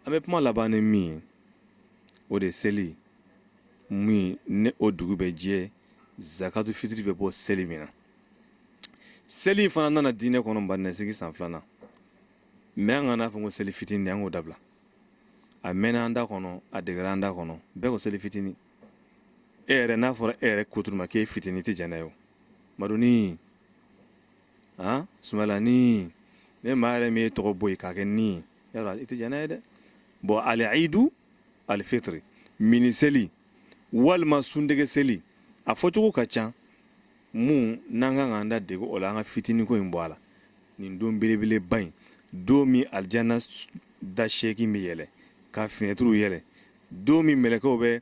An bɛ kuma laban ni min ye o de seli min ne o dugu bɛ jɛ zakatu fitiri bɛ bɔ seli min na seli fana nana diinɛ kɔnɔ madina sigi san filanan mais an kana n'a fɔ ko seli fitinin an k'o dabila a mɛnna an da kɔnɔ a degera an da kɔnɔ bɛɛ ko seli fitinin e yɛrɛ n'a fɔra e yɛrɛ kuturu ma k'e fitinin i tɛ jɛn n'a ye madunin han sumayilanin ni maa yɛrɛ min y'i tɔgɔ bɔ yen k'a kɛ nin ye i tɛ jɛn n'a ye dɛ bon aliidu alifitiri mini seli walima suntigɛ seli a fɔcogo ka ca minnu n'an ka kan k'an da dege o la an ka fitiniko in bɔ a la nin don belebeleba in don min alijana da seegin bɛ yɛlɛ k'a finɛtiriw yɛlɛ don min mɛlɛkɛw bɛ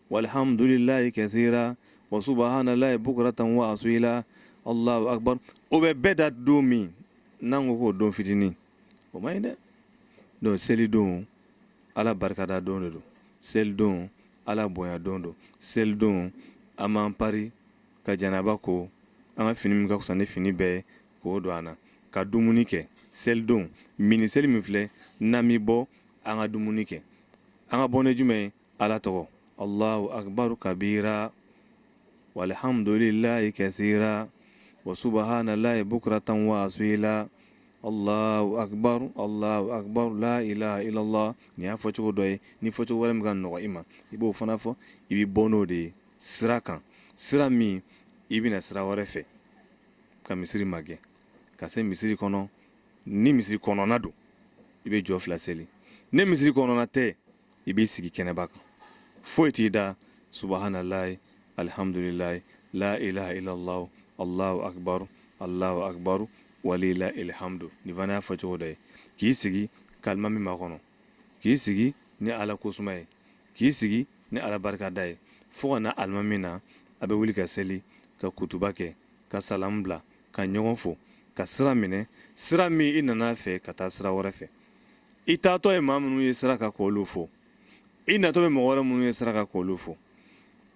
Walihamdulilahi kasira wa subahanallahi bukuratan wa asila allahu akbar o bɛ bɛɛ da don min n'an ko k'o don fitinin o man ɲi dɛ donc selidon ala barikada don de don selidon ala bonya don don selidon an b'an pari ka janaba ko an ka fini min ka fisa ni fini bɛɛ ye k'o don an na ka dumuni kɛ selidon mini seli min filɛ n'an bɛ bɔ an ka dumuni kɛ an ka bɔ ni jumɛn ye ala tɔgɔ allahu akbar kabiira walihamdulilahi kasira wa subahanallahi bukuratan wa asila allahu akbar la ilaha illallah nin y'a fɔ cogo dɔ ye ni fɔ cogo wɛrɛ min ka nɔgɔ i ma i b'o fana fɔ i bɛ bɔ n'o de ye sira kan sira min i bɛ na sira wɛrɛ fɛ ka misiri magɛn ka se misiri kɔnɔ ni misiri kɔnɔna don i bɛ jɔ fila seli ni misiri kɔnɔna tɛ i b'i sigi kɛnɛba kan foyi t'i da subahanallahi alihamdulilahi la ilaha illallah allahu akbar allahu akbar walilahil hamdu nin fana y'a fɔ cogo dɔ ye k'i sigi k'alimami makɔnɔ k'i sigi ni ala kosuma ye k'i sigi ni ala barikada ye fo ka na alimami na a bɛ wuli ka seli ka kutuba kɛ ka salamu bila ka ɲɔgɔn fo ka sira minɛ sira min i nana fɛ ka taa sira wɛrɛ fɛ i taatɔ ye maa minnu ye sira kan k'olu fo i natɔ bɛ mɔgɔ wɛrɛ minnu ye sira kan k'olu fo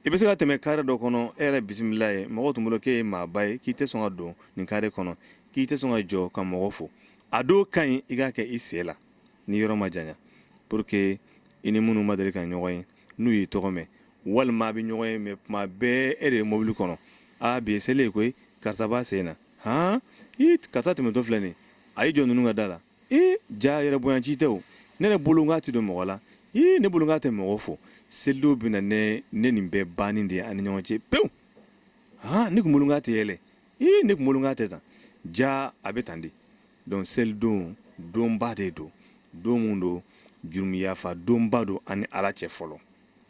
i bɛ se ka tɛmɛ kare dɔ kɔnɔ e yɛrɛ bisimila yen mɔgɔ tun bolo k'e ye maaba ye k'i tɛ sɔn ka don nin kare kɔnɔ k'i tɛ sɔn ka jɔ ka mɔgɔ fo a dɔw ka ɲi i k'a kɛ i sen la ni yɔrɔ ma janya pour que i ni minnu ma deli ka ɲɔgɔn ye n'u y'i tɔgɔ mɛn walima a bɛ ɲɔgɔn ye mais tuma bɛɛ e de ye mobili kɔnɔ a bi ye seli ye koyi karisa b'a sen na han karisa tɛmɛtɔ filɛ nin a y'i jɔ ninnu ka da la ee ja yɛrɛ bonya ci tɛ o ne yɛrɛ bolo k'a tɛ don mɔgɔ la ee ne bolo k'a tɛ mɔgɔ fo selidon bɛ na ni nin bɛɛ banni de ye an ni ɲɔgɔn cɛ pewu aa ne tun bolo k'a tɛ yɛlɛ ee ne tun bolo k'a tɛ tan ja a bɛ tan de donc selidon donba de don don min don jurumuyafa donba don an ni ala cɛ fɔlɔ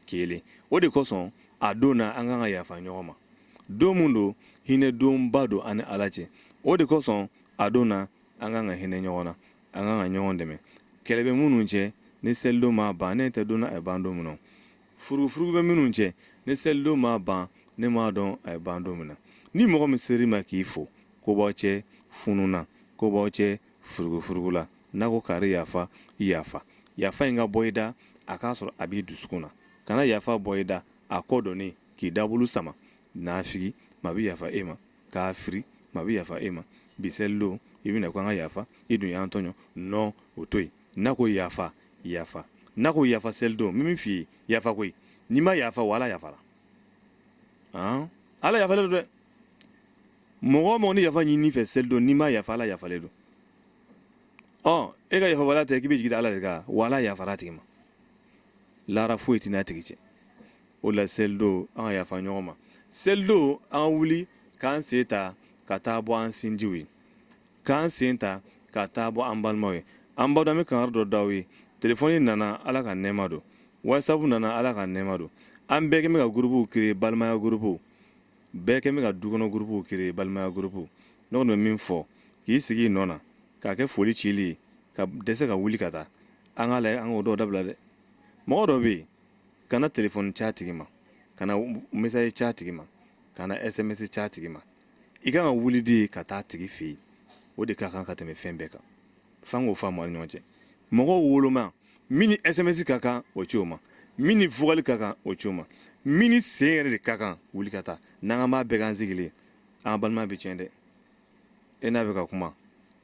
kelen o de kosɔn a don na an kan ka yafa ɲɔgɔn ma don min don hinɛ donba don an ni ala cɛ o de kosɔn a don na an kan ka hinɛ ɲɔgɔn na an kan ka ɲɔgɔn dɛmɛ kɛlɛ bɛ minnu cɛ ni selidon m'a ban ne t'a dɔn a ye ban don min na furugufurugu bɛ minnu cɛ ni selidon m'a ban ne m'a dɔn a ye ban don min na ni mɔgɔ min ser'i ma k'i fo ko b'aw cɛ funun na ko b'aw cɛ furugufurugu la n'a ko kari yafa i yafa yafa in ka bɔ i da a k'a sɔrɔ a b'i dusukun na kana yafa bɔ i da a kɔ donnen k'i dabulu sama naafigi maa bɛ yafa e ma kafiri maa bɛ yafa e ma bi selidon i bɛ na ko an ka yafa i dun y'an tɔɲɔ non o to yen n'a ko yafa yafa n'a ko yafa selidon min f'i ye yafa koyi n'i ma yafa wa ala yafara ala yafalen don dɛ mɔgɔ mɔgɔ ni yafa ɲini i fɛ selidon n'i ma yafa ala yafalen don ɔ e ka yafa wala tɛ k'i bɛ jigin ala de kan wa ala yafara a tigi ma lahara foyi t'i n'a tigi cɛ o la selidon an ka yafa ɲɔgɔn ma selidon an wuli k'an sen ta ka taa bɔ an sinjiw ye k'an sen ta ka taa bɔ an balimaw ye an baw bɛ kankari dɔ d'aw ye telefɔni nana ala ka nɛɛma don whatsapp nana ala ka nɛɛma don an bɛɛ kɛlen bɛ ka gurubuw créer balimaya gurubuw bɛɛ kɛlen bɛ ka dukɔnɔ gurubuw créer balimaya gurubuw ne kɔni bɛ min fɔ k'i sigi i nɔ na k'a kɛ foli cili ye ka dɛsɛ ka wuli ka taa an k'a lajɛ an k'o dɔw dabila dɛ mɔgɔ dɔ bɛ yen kana telefɔni c'a tigi ma kana message c'a tigi ma kana sms c'a tigi ma i kan ka wuli de ka taa a tigi fɛ yen o de ka kan ka tɛmɛ fɛn bɛɛ kan f'an k'o faamu an ni ɲɔgɔn cɛ mɔgɔw woloma min ni sms ka kan o ci o ma min ni vokali ka kan o ci o ma min ni sen yɛrɛ de ka kan wuli ka taa n'an k'an b'a bɛɛ k'an sigilen an balima bɛ tiɲɛ dɛ e n'a bɛ ka kuma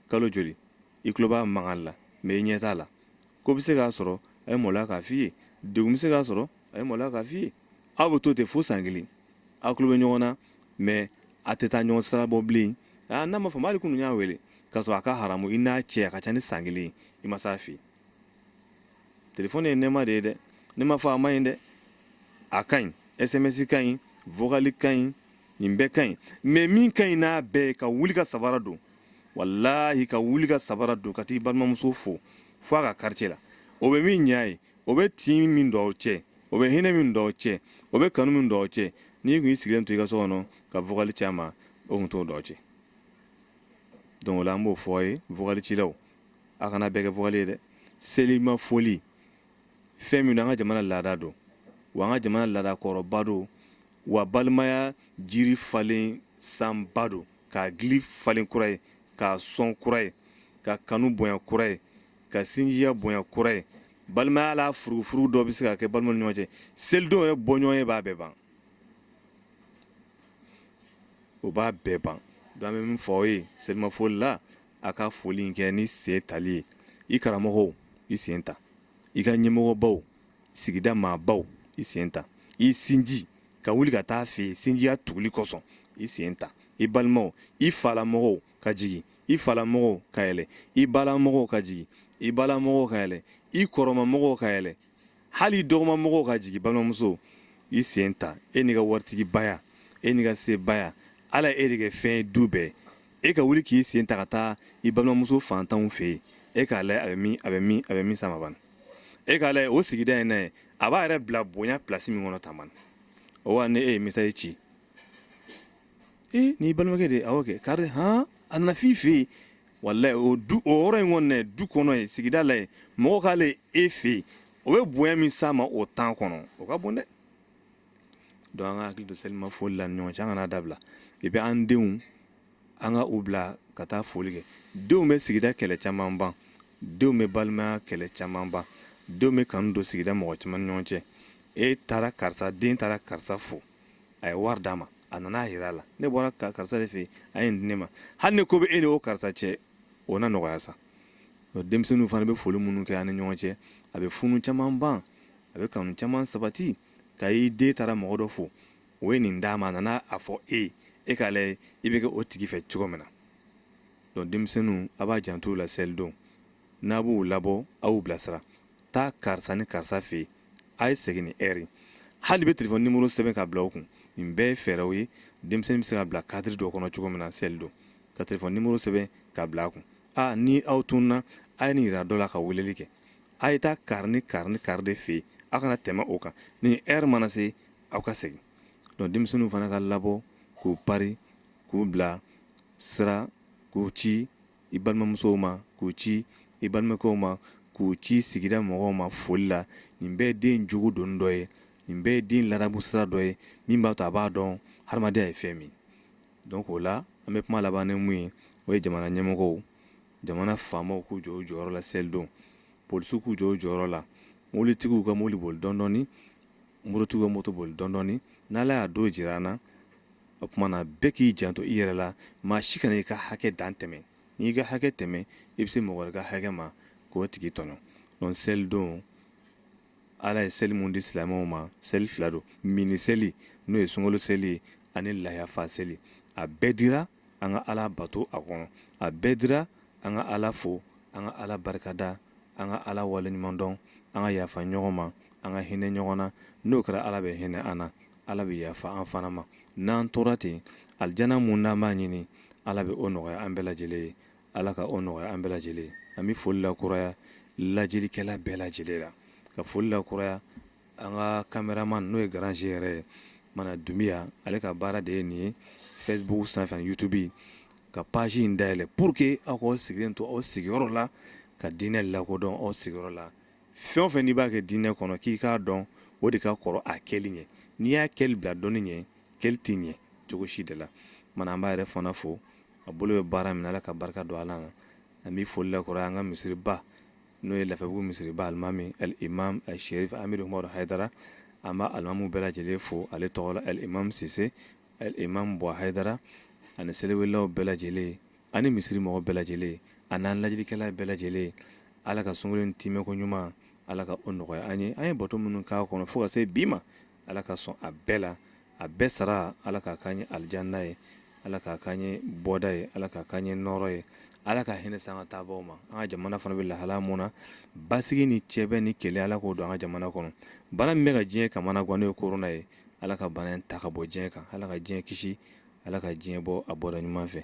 kalo joli i tulo b'a mankan la mais i ɲɛ t'a la ko bɛ se k'a sɔrɔ a ye maloya k'a f'i ye degun bɛ se k'a sɔrɔ a ye maloya k'a f'i ye aw bɛ to ten fo san kelen aw tulo bɛ ɲɔgɔn na mais a tɛ taa ɲɔgɔn sira bɔ bilen aa n'a ma faamu hali kunun i y'a wele k'a sɔrɔ a ka haramu i n'a cɛ a ka ca ni san kelen i ma s'a fɛ yen telefɔni ye nɛɛma de ye dɛ ne ma fɔ a ma ɲi dɛ a ka ɲi sms ka ɲi vokali ka ɲi nin bɛɛ ka ɲi mais min ka ɲi n'a bɛɛ ye ka wuli ka sabara don walahi ka wuli ka sabara don ka taa i balimamuso fo fo a ka quartier la o bɛ min ɲa ye o bɛ tin min don aw cɛ o bɛ hinɛ min don aw cɛ o bɛ kanu min don aw cɛ n'i kun y'i sigilen to i ka so kɔnɔ ka vocal ci a ma o kun t'o don aw cɛ donc o la an b'o fɔ aw ye vocal cilaw a kana bɛɛ kɛ vocal ye dɛ selima foli fɛn min don an ka jamana laada don wa an ka jamana laada kɔrɔba don wa balimaya jiri falen sanba don k'a gili falen kura ye k'a sɔn kura ye ka kanu bonya kura ye ka sinjiya bonya kura ye balimaya la furufuru dɔ bɛ se ka kɛ balimaw ni ɲɔgɔn cɛ selidon yɛrɛ bɔɲɔgɔn ye b'a bɛɛ ban o b'a bɛɛ ban donc an bɛ min fɔ aw ye selimafoli la a ka foli in kɛ ni sen tali ye i karamɔgɔw i sen ta i ka ɲɛmɔgɔbaw sigida maabaw i sen ta i sinji ka wuli ka taa fɛ yen sinjiya tuguli kosɔn i sen ta i balimaw i falamɔgɔw ka jigin i falamɔgɔw ka yɛlɛ i balamɔgɔw ka jigin i balamɔgɔw ka yɛlɛ i kɔrɔmamɔgɔw ka yɛlɛ hali dɔgɔmamɔgɔw ka jigin balimamuso i sen ta e n'i ka waritigibaya e n'i ka sebaya ala y'e de kɛ fɛn ye du bɛɛ e ka wuli k'i sen ta ka taa i balimamuso fantanw fɛ yen e k'a lajɛ a bɛ min sama bani e k'a lajɛ o sigida in na yen a b'a yɛrɛ bila bonya plasi min kɔnɔ tan bani o wa ni e ye message ci n'i balimakɛ de awɔ kɛ kari hɔn a nana f'i fɛ yen walahi o yɔrɔ in kɔni du kɔnɔ yen sigida la yen mɔgɔ k'ale ye e fɛ yen o bɛ bonya min sama o temps kɔnɔ o ka bon dɛ donc an k'an hakili to selima foli la an ni ɲɔgɔn cɛ an kana dabila et puis an denw an ka u bila ka taa foli kɛ denw bɛ sigida kɛlɛ caman ban denw bɛ balimaya kɛlɛ caman ban denw bɛ kanu don sigida mɔgɔ caman ni ɲɔgɔn cɛ e taara karisa den taara karisa fo a ye wari d'a ma a nana a yira a la ne bɔra karisa de fɛ yen a ye nin di ne ma hali ni ko bɛ e ni o karisa cɛ o na nɔgɔya sa Ɔ, denmisɛnninw fana bɛ foli minnu kɛ an ni ɲɔgɔn cɛ a bɛ funu caman ban a bɛ kanu caman sabati ka i den taara mɔgɔ dɔ fo o ye nin d'a ma a nana a fɔ e ye e k'a lajɛ i bɛ kɛ o tigi fɛ cogo min na donc denmisɛnninw a b'a janto la selidon n'a b'u labɔ a y'u bilasira taa karisa ni karisa fɛ yen a ye segin nin ɛri hali bɛ telefɔni nimoro sɛbɛn ka bila u kun nin bɛɛ ye fɛɛrɛw ye denmisɛnnin bɛ se ka bila kadiri dɔ kɔnɔ cogo min na selidon ka telefɔni nimoro sɛbɛn ka bila a kun ni aw tununna a ye nin yira dɔ la ka weleli kɛ a ye taa kari ni kari ni kari de fɛ yen a kana tɛmɛ o kan nin ɛri mana se aw ka segin donc denmisɛnninw fana ka labɔ k'u pari k'u bila sira k'u ci i balimamusow ma k'u ci i balimakɛw ma k'u ci sigida mɔgɔw ma foli la nin bɛɛ den jogo don dɔ ye nin bɛɛ ye den ladamu sira dɔ ye min b'a to a b'a dɔn hadamadenya ye fɛn min donc o la an bɛ kuma laban ni mun ye o ye jamana ɲɛmɔgɔw jamana faamaw k'u jɔ u jɔyɔrɔ la selidon polisiw k'u jɔ u jɔyɔrɔ la mobilitigiw ka mobili boli dɔndɔɔni mototigiw ka moto boli dɔndɔɔni n'ala y'a don jira an na o tuma na bɛɛ k'i janto i yɛrɛ la maa si kana i ka hakɛ dan tɛmɛ n'i ka hakɛ tɛmɛ i bɛ se mɔgɔ wɛrɛ ka hakɛ ma k'o tigi tɔɲɔ donc selidon ala ye seli mun di silamɛw ma seli fila don mini seli n'o ye sunkalo seli ye ani layafa seli a bɛɛ dira an ka ala bato a kɔnɔ a bɛɛ dira an ka ala fo an ka ala barikada an ka ala waleɲumandɔn an ka yafa ɲɔgɔn ma an ka hinɛ ɲɔgɔn na n'o kɛra ala bɛ hinɛ an na ala bɛ yafa an fana ma n'an tora ten alijana mun n'an b'a ɲini ala bɛ o nɔgɔya an bɛɛ lajɛlen ye ala ka o nɔgɔya an bɛɛ lajɛlen ye an bɛ foli lakuraya lajɛlikɛla bɛɛ lajɛlen la ka foli lakuraya An ka kameraman n'o ye garange yɛrɛ ye mana dunbiya ale ka baara de ye nin ye Facebook sanfɛ ani YouTube ka page in dayɛlɛn pour que aw k'aw sigilen to aw sigiyɔrɔ la ka diinɛ lakodɔn aw sigiyɔrɔ la fɛn o fɛn n'i b'a kɛ diinɛ kɔnɔ k'i k'a dɔn o de ka kɔrɔ a kɛli ɲɛ n'i y'a kɛli bila dɔnni ɲɛ kɛli tɛ ɲɛ cogo si de la mana an b'a yɛrɛ fana fo a bolo bɛ baara min na ala ka barika don a la an bɛ foli lakɔrɔ an ka misiriba n'o ye lafiyabugu misiriba alimami alimam asherifu amidu umaru hayidara an bɛ alimamu bɛɛ lajɛlen fo ale tɔgɔ la alimam sise alimam buwa hayidara ani seliwelelaw bɛɛ lajɛlen ani misiri mɔgɔ bɛɛ lajɛlen ani an lajɛlikɛla bɛɛ lajɛlen ala ka sunkalo in timɛko ɲuman ala ka o nɔgɔya an ye an ye bato minnu k'a kɔnɔ fo ka se bi ma ala ka sɔn a bɛɛ la a bɛɛ sara ala k'a k'an ye alijana ye ala k'a k'an ye bɔda ye ala k'a k'an ye nɔɔrɔ ye ala ka hinɛ s'an ka taabaaw ma an ka jamana fana bɛ lahala mun na basigi ni cɛbɛn ni kɛlɛ ala k'o don an ka jamana kɔnɔ bana min bɛ ka diɲɛ kamanagan n'o ye korona ye ala ka bana in ta ka bɔ diɲɛ kan ala ka diɲɛ kisi ala ka diɲɛ bɔ a bɔda ɲuman fɛ